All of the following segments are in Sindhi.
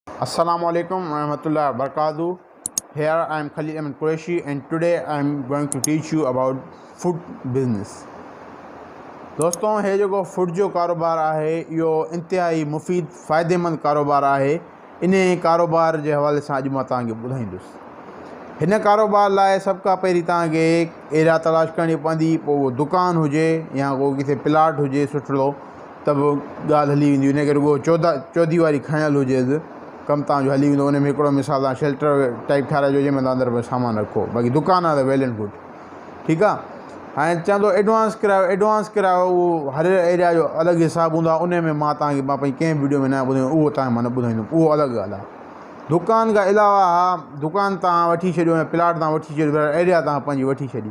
السلام عليڪم ورحمة الله وبرڪاته Here I am Khalil Ahmed Qureshi and today I am going to teach you about food business. دوستو هي جيڪو فوڊ جو ڪاروبار آهي اهو انتهائي مفيد فائديمند ڪاروبار آهي ان ڪاروبار جي حوالي سان اڄ مان توهان کي ٻڌائيندس هن ڪاروبار لاء سڀ کان پهرين توهان کي ايريا تلاش ڪرڻي پوندي پوء اهو دڪان هجي يا ڪو ڪٿي پلاٽ هجي سٺڙو ته به ڳالهه هلي ويندي انهيء ڪري اهو چوڌا چوڌي واري کڻيل هجيس ڪم تهان جو هلي ويندو انهيء ۾ هڪڙو مثال تهان شيلٽر ٽائيپ ٺاهرائجو جنهن ۾ تهان اندر ۾ سامان رکو باقي دڪان آهي ته ويل اينڊ گڊ ٺيڪ آهي هائين چوندو ايڊوانس ڪرايو ايڊوانس ڪرايو اهو هر ايريا جو الڳ حساب هوندو آهي انهيء ۾ مان تهان کي مان پنهنجي ڪنهن ويڊيو ۾ ناهي ٻڌايو اهو تهان کي مان نه ٻڌائيندم اهو الڳ ڳالهه آهي دڪان کان علاوه دڪان تهان وٺي ڇڏيو ۽ پلاٽ تهان وٺي ڇڏيو ايريا تهان پنهنجي وٺي ڇڏي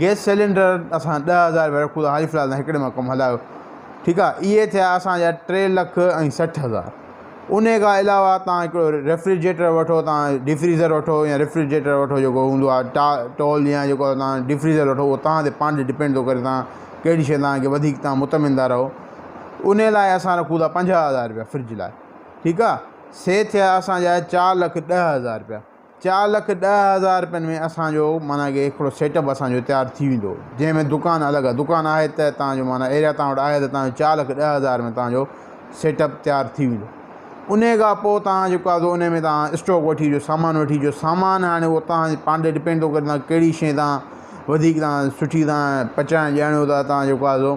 گئس سيلينڊر اسان ڏهه هزار رپيا رکون ٿا حال فلحال تون هڪڙي مان ڪم هلايو ٺيڪ آ اهي ٿيا اسان جا ٽي لک ۽ سٺ هزار ان کان علاوه تان هڪڙو ريفريجريٽر وٺو تان ڊي فريزر وٺو يا ريفريجريٽر وٺو جيڪو هوندو آ ٽا ٽول يا جيڪو تان ڊي فريزر وٺو اهو تان تي پانچ ڊپينڊ ٿو ڪري تان ڪهڙي شي تان کي وڌيڪ تان مطمئن ٿا رهو ان لاء اسان رکون ٿا پنجاهه هزار رپيا فرج لاء ٺيڪ آ سي ٿيا اسان جا چار لک ڏهه هزار رپيا چار لک ڏهه هزار رپين ۾ اسان جو معنيٰ ڪه هڪڙو سيٽ اپ اسان جو تيار ٿي ويندو جنهن ۾ دڪان الڳ آهي دڪان آهي ته توهان جو معنيٰ ايريا توهان وٽ آهي ته توهان جو چار لک ڏهه هزار ۾ توهان جو سيٽ اپ تيار ٿي ويندو ان کان پوء توهان جيڪو آهي ان ۾ توهان اسٽاڪ وٺي جو سامان وٺي جو سامان هاڻي هو توهان جي پاڻ تي ڊپينڊ ٿو ڪري توهان کي ڪهڙي شي توهان وڌيڪ توهان سٺي توهان پچائڻ ڄاڻو توهان جيڪو آهي سو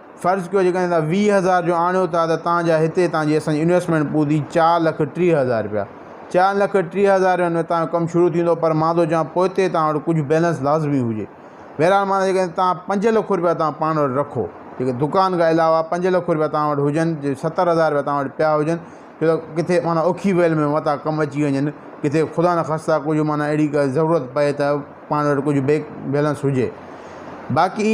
فرض ڪيو جيڪڏهن توهان ويهه هزار جو آڻيو ٿا ته توهان جا هتي توهان جي اسان جي انويسٽمينٽ پوندي چار لک ٽيهه هزار رپيا چار لک ٽيهه هزار رپين ۾ توهان جو ڪم شروع ٿيندو پر مان ٿو چوان پوئتي توهان وٽ ڪجهه بيلنس لازمي هجي بهرحال معنيٰ جيڪڏهن توهان پنج لک رپيا توهان پاڻ وٽ رکو جيڪي دڪان کان علاوه پنج لک رپيا توهان وٽ هجن جي ستر هزار رپيا توهان وٽ پيا هجن ڇو ته ڪٿي معنيٰ اوکي ويل ۾ متان ڪم اچي وڃن ڪٿي خدا نه خاصا ڪجهه معنيٰ اهڙي ڪا ضرورت پئي ته پاڻ وٽ ڪجهه بيڪ بيلنس هجي باقي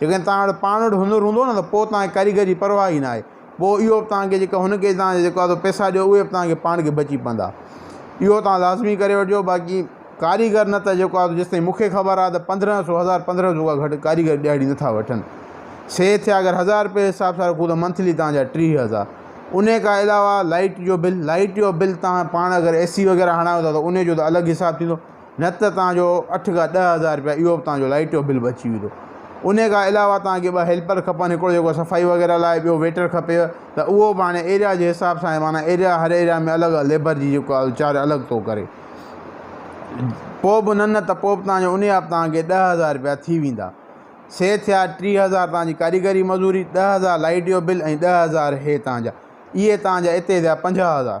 جيڪڏهن توهان وٽ پاڻ وٽ هنر هوندو نه ته پوء توهان کي ڪاريگر جي پرواهه ئي ناهي. پوء اهو به توهان کي جيڪا هن کي توهان جا جيڪا تو پئسا ڏيو اهي به توهان کي پاڻ کي بچي پوندا. اهو توهان لازمي ڪري وٺجو باقي ڪاريگر نه ته جيڪو آهي جيستائين مون کي خبر آهي ته پندرهن سو هزار پندرهن سو کان گهٽ ڪاريگر ڏهاڙي نه ٿا وٺن. سي ٿيا اگر هزار رپيه حساب سان رکون ته منٿلي توهان جا ٽيهه هزار. ان کان علاوه لائٽ جو بل لائٽ جو بل توهان پاڻ اگر اي سي وغيره هڻايو ٿا ته ان جو ته الڳ حساب ٿيندو. نه ته توهان جو اٺ کان ڏهه هزار روپيا اهو به توهان جو لائيٽ جو بل به اچي ويندو انهي کان علاوه توهان کي ٻه هيلپر کپن هڪڙو جيڪو صفائي وغيره لاء ٻيو ويٽر کپيو ته اهو به هاڻي ايريا جي حساب سان معنيٰ ايريا هر ايريا ۾ الڳ ليبر جي جيڪو آهي چارج الڳ ٿو ڪري پوء به نه نه ته پوء به توهان جو انهي آب توهان کي ڏهه هزار روپيا ٿي ويندا سي ٿيا ٽيهه هزار توهان جي ڪاريگري مزوري ڏهه هزار لائيٽ جو بل ۽ ڏهه هزار هي توهان جا اهي توهان جا اتي ٿيا پنجاهه هزار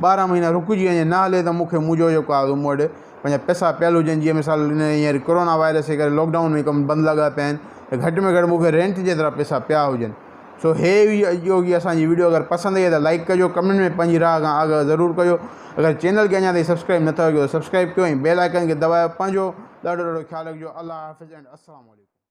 ٻارهن مهينا رڪجي وڃي نه هلي ته مون کي منهنجو جيڪو آ مون وٽ پنهنجا پئسا پيل هجن جيئن مثال هن هينئر ڪورونا وائرس جي ڪري لوڪ ڊائون ۾ ڪم بند لڳا پيا آهن ته گهٽ ۾ گهٽ مون کي رينٽ جي طرح پئسا پيا هجن سو هي هئي اڄوڪي جي اسانجي ويڊيو اگر پسند آئي ته لائڪ ڪجو ڪمينٽ ۾ پنهنجي راء کان آگاهه ضرور ڪجو اگر چينل کي اڃا تائين سبسڪرائب نه ٿيو ته سبسڪرائب ڪيو ۽ بيل آئڪن کي دٻايو پنهنجو ڏاڍو ڏاڍو خيال رکجو الله حافظ اينڊ السلام عليڪم